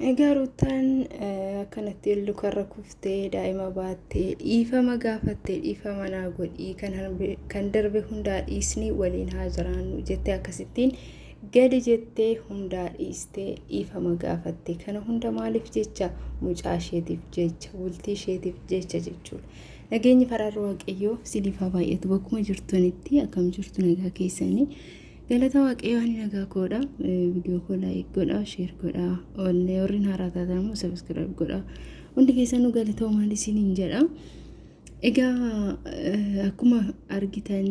Egaa Ruuttaan akkanatti lukarra kuftee daa'ima baattee dhiifama gaafattee dhiifama naa godhii kan darbe hundaa dhiisnee waliin haa jiraannu jettee akkasittiin gadi jettee hundaa dhiistee dhiifama gaafatte kana hunda maaliif jecha mucaa isheetiif jecha bultii isheetiif jecha jechuudha. Nageenyi faraarri waaqayyoo siniif haa baay'atu bakkuma jirtanitti akkam jirtu nagaa keessanii. Galata waaqayyoo ani nagaa koodha. Viidiyoo koo laayik godhaa, sheer godhaa. Ollee warreen haaraa taatan immoo sabiskiraayib godhaa. Hundi keessanuu galatoomaa isiniin jedha. Egaa akkuma argitan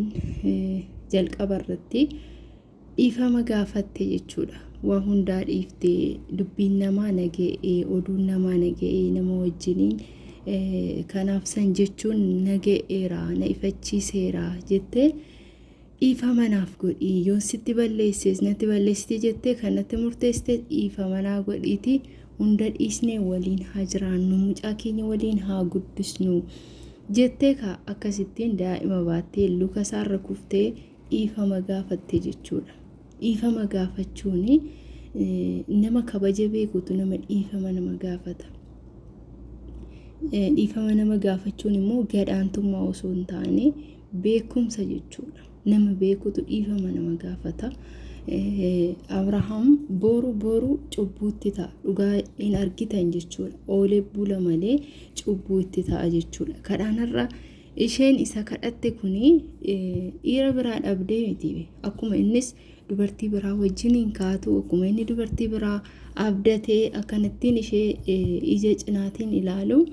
jalqaba irratti dhiifama gaafatte jechuudha. Waa hundaa dhiifte dubbiin namaa naga'ee oduun namaa naga'ee nama wajjiniin kanaaf san jechuun naga'eera na ifachiiseera jettee. Dhiifama naaf godhi, yoon sitti balleesses natti balleessite jettee kan natti murteessite dhiifama naa godhiiti hunda dhiisnee waliin haa jiraannu mucaa keenya waliin haa guddisnu jettee ka akkasittiin daa'ima baattee luka isaarra kuftee dhiifama gaafatte jechuudha. Dhiifama gaafachuun nama kabaja beekutu nama dhiifama nama gaafata. Dhiifama nama gaafachuun immoo gadaantummaa osoo hin taane Beekumsa jechuudha. Nama beekutu dhiifama nama gaafata. Abrahaam boru boru cubbuutti ta'a. Dhugaa hin argitan jechuudha. Oolee bula malee cubbuu itti ta'a jechuudha. Kadhaanarra isheen isa kadhatte kuni dhiira biraa dhabdee miti. Akkuma innis dubartii biraa wajjin hin kaatu. Akkuma inni dubartii biraa abdatee akkanattiin ishee ija cinaatiin ilaalu.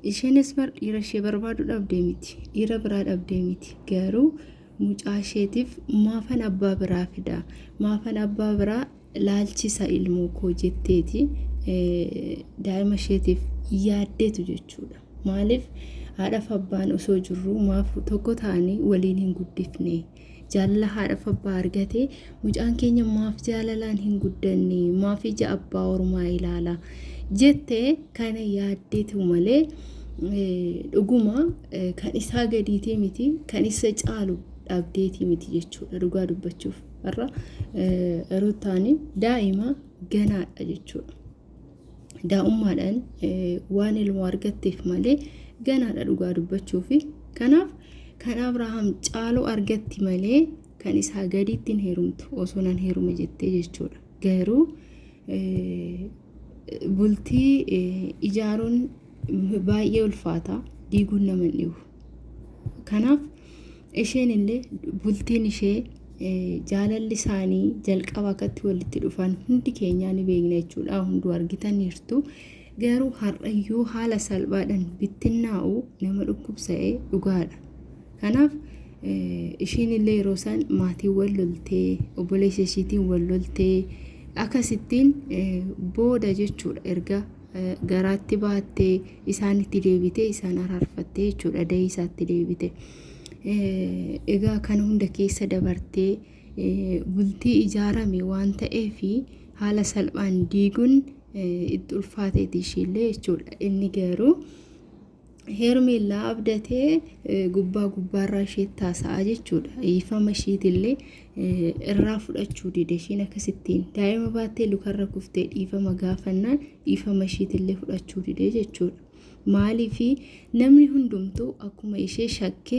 Isheenis bar dhiira ishee barbaadu dhabdee miti. Dhiira biraa dhabdee miti. Garuu mucaa isheetiif maafan abbaa biraa fida. Maafan abbaa biraa laalchisa ilmoo koo jetteeti daa'ima isheetiif yaaddeetu jechuudha. Maaliif haadhaaf abbaan osoo jirru maaf tokko ta'anii waliin hin guddifne. Jaalala haadhaaf abbaa argate mucaan keenya maaf jaalalaan hin guddanne maaf ija abbaa ormaa ilaala jette kana yaaddeetu malee dhuguma kan isaa gadiitee miti kan isa caalu dhabdeetii miti jechuudha dhugaa dubbachuuf har'a rutaani daa'ima ganaadha jechuudha. daa'ummaadhaan waan ilmoo argatteef malee ganaadha dhugaa dubbachuufi kanaaf kan abrahaam caaloo argatti malee kan isaa gadiitti hin heerumtu osoo nan heerume jettee jechuudha garuu bultii ijaaruun baay'ee ulfaata diiguun nama hin dhibu. Kanaaf isheen illee bultiin ishee eh, jaalalli isaanii jalqaba akkatti walitti dhufan hundi keenyaa ni beekna jechuudha hunduu argitaniirtu garuu har'ayyuu haala salphaadhaan bittinnaa'u nama dhukkubsa'e dhugaadha kanaaf eh, isheen illee yeroo isaan maatiin wal loltee obboleessa isheetiin wal loltee akkasittiin eh, booda jechuudha erga garaatti baattee isaanitti deebitee isaan araarfattee jechuudha da'ii isaatti deebite. Egaa kana hunda keessa dabartee bultii ijaarame waan ta'eef haala salphaan diiguun itti ulfaateeti ishiillee jechuudha. Inni garuu Heermeellaa abdatee gubbaa gubbaarraa isheetti haasa'aa jechuudha. Dhiifama ishiitillee irraa fudhachuu dide ishiin akkasittiin daa'ima baattee lukarra kuftee dhiifama gaafannaan dhiifama ishiitillee fudhachuu dide jechuudha. Maaliif namni hundumtuu akkuma ishee shakke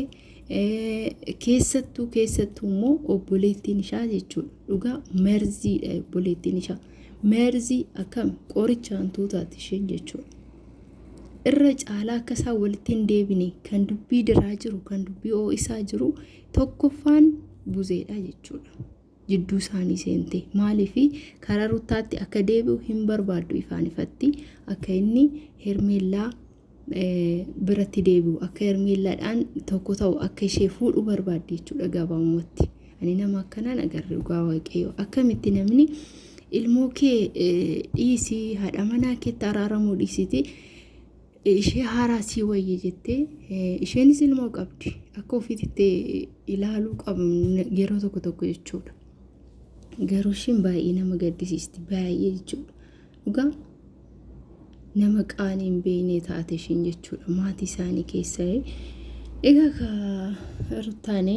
keessattuu keessattuu immoo obboleettiin ishaa jechuudha. Dhugaa merziidha obboleettiin ishaa. Merzii akkam qoricha hantuutaati isheen jechuudha. irra caalaa akka isaan walitti hin deebine kan dubbii diraa jiru kan dubbii oo'isaa jiru tokkoffaan buzeedha jechuudha. Jidduu isaanii seente maaliif karaa ruttaatti akka deebi'u hin barbaaddu ifaan ifatti akka inni hermeellaa biratti deebi'u akka hermeellaadhaan tokko ta'u akka ishee fuudhu barbaaddi jechuudha gabaabumatti. Ani nama akkanaan agarre dhugaa waaqayyoo akkamitti namni ilmoo kee dhiisii haadha manaa keetti araaramuu dhiisiti ishee haaraa sii wayya jettee isheenis ilmoo qabdi akka ofiitti ilaaluu qabu yeroo tokko tokko jechuudha. Garuu ishiin baay'ee nama gaddisiisti baay'ee jechuudha. Dhugaa nama qaanii hin beekne taate ishiin jechuudha maatii isaanii keessa. Egaa ka ruttaane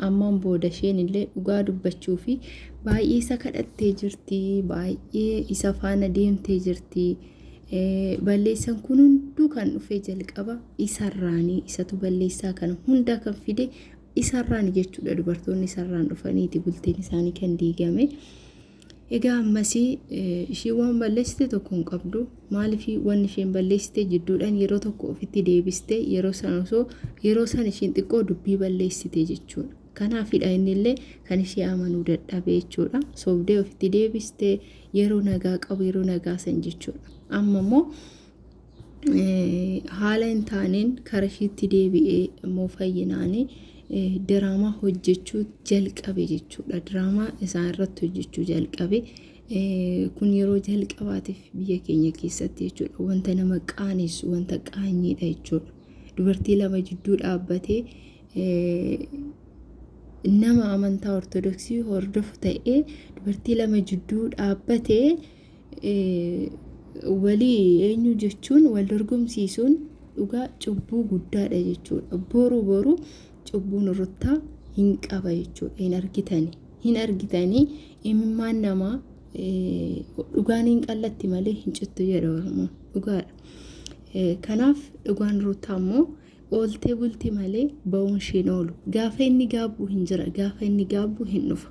ammaan booda isheen illee dhugaa dubbachuu fi baay'ee isa kadhattee jirti baay'ee isa faana deemtee jirti. Balleessan kun hunduu kan dhufee jalqaba isarraanii isatu balleessaa kana hundaa kan fide isarraani jechuudha dubartoonni isarraan dhufaniiti bultiin isaanii kan diigame. Egaa ammasii ishii waan balleessite tokko hin qabdu maaliif waan isheen balleessite jidduudhaan yeroo tokko ofitti deebiste yeroo san osoo yeroo san isheen xiqqoo dubbii balleessite jechuudha. Kanaafidha inni illee kan ishee amanuu dadhabe jechuudha. Sobdee ofitti deebiste yeroo nagaa qabu yeroo nagaa san jechuudha. Amma immoo haala hin taaneen kara ishiitti deebi'ee immoo fayyinaanii diraamaa hojjechuu jalqabe jechuudha. Diraamaa isaa irratti hojjechuu jalqabe. Kun yeroo jalqabaatiif biyya keenya keessatti jechuudha. Wanta nama qaanessu, wanta qaanyiidha jechuudha. Dubartii lama jidduu dhaabbatee nama amantaa ortodoksii hordofu ta'ee dubartii lama jidduu dhaabbatee walii eenyu jechuun wal dorgomsiisuun dhugaa cubbuu guddaadha jechuudha. Boru boru cubbuun ruttaa hin qaba jechuudha. Hin argitani. Hin argitani imimmaan namaa dhugaan hin qallatti malee hin cittu jedha Oromoon. Dhugaadha. Kanaaf dhugaan ruttaa immoo Oolte bulti malee ba'uun ishii hin oolu. Gaafa inni gaabbu hin jira, gaafa inni gaabbu hin dhufa.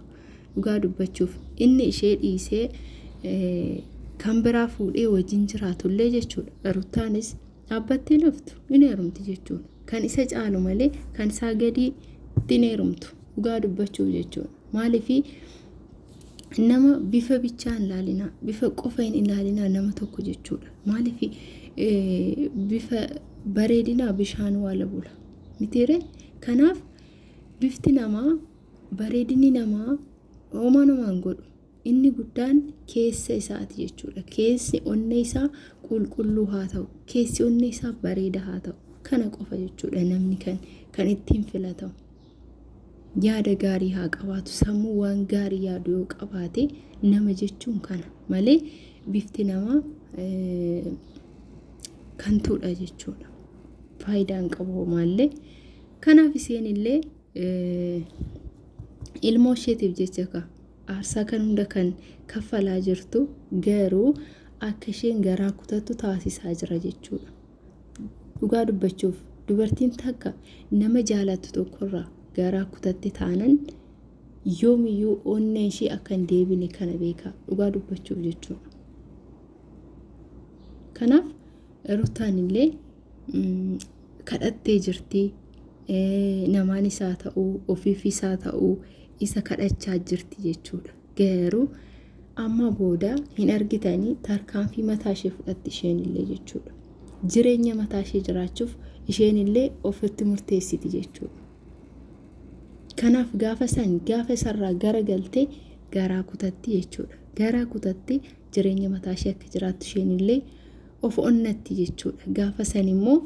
Dhugaa dubbachuuf inni ishee dhiisee kan biraa fuudhee wajjin jiraatullee jechuudha. Ruttaanis dhaabbattee laftu hin heerumti jechuudha. Kan isa caalu malee kan isaa gadii hin heerumtu. Dhugaa dubbachuuf jechuudha. Maaliifii nama bifa bichaa hin laalinaa bifa qofa hin ilaalinaa nama tokko jechuudha maaliif bifa bareedinaa bishaan waala bula mitiire kanaaf bifti namaa bareedinni namaa homaa namaa hin godhu inni guddaan keessa isaati jechuudha keessi onnee isaa qulqulluu haa ta'u keessi onnee isaa bareeda haa ta'u kana qofa jechuudha namni kan kan ittiin filatamu. yaada gaarii haa qabaatu sammuu waan gaarii yaadu yoo qabaate nama jechuun kana malee bifti namaa kantuudha jechuudha faayidaan qabu homaallee kanaaf isheen illee ilmoo isheetiif jecha ka aarsaa kan hunda kan kaffalaa jirtu garuu akka isheen garaa kutattu taasisaa jira jechuudha. Dhugaa dubbachuuf dubartiin takka nama jaalattu tokkorraa garaa kutatte taanan yoomiyyuu onneen ishii akka hin deebine kana beekaa dhugaa dubbachuuf jechuudha. Kanaaf rutaan illee kadhattee jirti namaan isaa ta'uu ofiif isaa ta'uu isa kadhachaa jirti jechuudha. gaheeru amma booda hin argitanii tarkaanfii mataa ishee fudhatti isheen illee jechuudha. Jireenya mataa ishee jiraachuuf isheen illee ofitti murteessiti jechuudha. Kanaaf gaafa san gaafa isarraa gara galtee garaa kutatti jechuudha. Garaa kutatti jireenya mataa ishee akka jiraattu isheen illee of onnatti jechuudha. Gaafa san immoo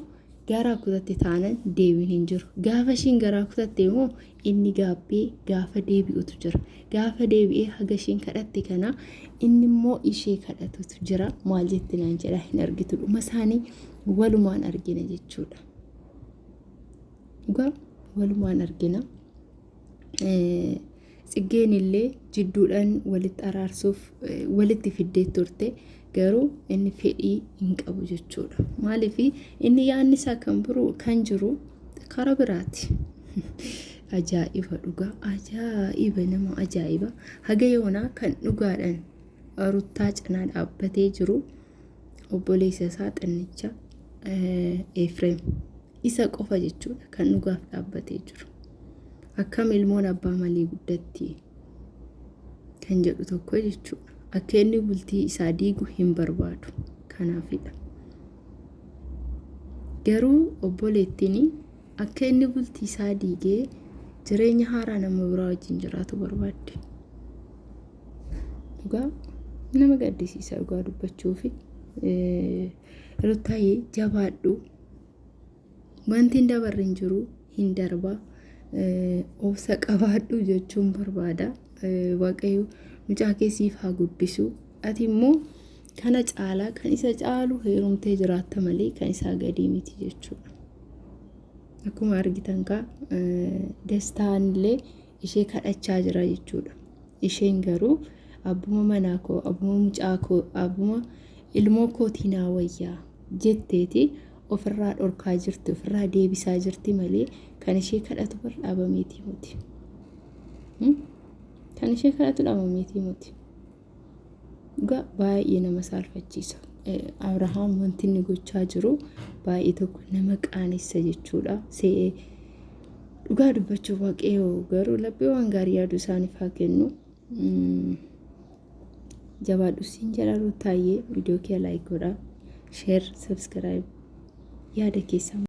garaa kutatti taanan deebiin hin jiru. Gaafa ishiin garaa kutatte immoo Inni gaabbee gaafa deebi'utu jira. Gaafa deebi'ee haga isheen kadhatte kana inni immoo ishee kadhatutu jira. Maal jetti naan jedha hin argitu dhuma isaanii walumaan argina jechuudha. Dhugaa walumaan argina. Tsiggeen illee jidduudhaan walitti araarsuuf walitti fiddee turte. garuu inni fedhii hin qabu jechuudha. Maaliif inni yaadni isaa kan biroo kan jiru karaa biraati. Ajaa'iba dhugaa ajaa'iba nama ajaa'iba haga yoonaa kan dhugaadhaan ruttaa cinaa dhaabbatee jiru obboleessa isaa xinnicha Efreem isa qofa jechuudha kan dhugaaf dhaabbatee jiru. Akkam ilmoon abbaa malee guddatti kan jedhu tokko jechuudha. Akka inni bultii isaa diigu hin barbaadu. Kanaafidha. Garuu obboleettiin akka inni bultii isaa diigee jireenya haaraa nama biraa wajjin jiraatu barbaadde. Dhugaa nama gaddisiisa dhugaa dubbachuufi. Ruttaayee jabaadhu. Wanti hin dabarre hin jiru hin darba obsa qabaadhu jechuun barbaada waaqayyo mucaa kee siif haa guddisu ati immoo kana caalaa kan isa caalu heerumtee jiraatta malee kan isaa gadii miti jechuudha. Akkuma argitan kaa dastaan illee ishee kadhachaa jira jechuudha. Isheen garuu abbuma manaa koo, abbuma mucaa koo, abbuma ilmoo kootii naa wayyaa jetteeti ofirraa dhorkaa jirti, ofirraa deebisaa jirti malee kan ishee kadhatu bar dhaabameetii muti. Kan ishee kadhatu dhaabameetii muti. Dhugaa baay'ee nama saalfachiisa. Abrahaam wanti inni gochaa jiru baay'ee tokko nama qaanessa jechuudha. See'ee dhugaa dubbachuu waaqayyoo garuu laphee waan gaarii yaadu isaaniif haa kennu. Jabaadhu siin jedha Ruuttaayee viidiyoo kee laayik godhaa. Sheer, sabskiraayib yaada keessaa.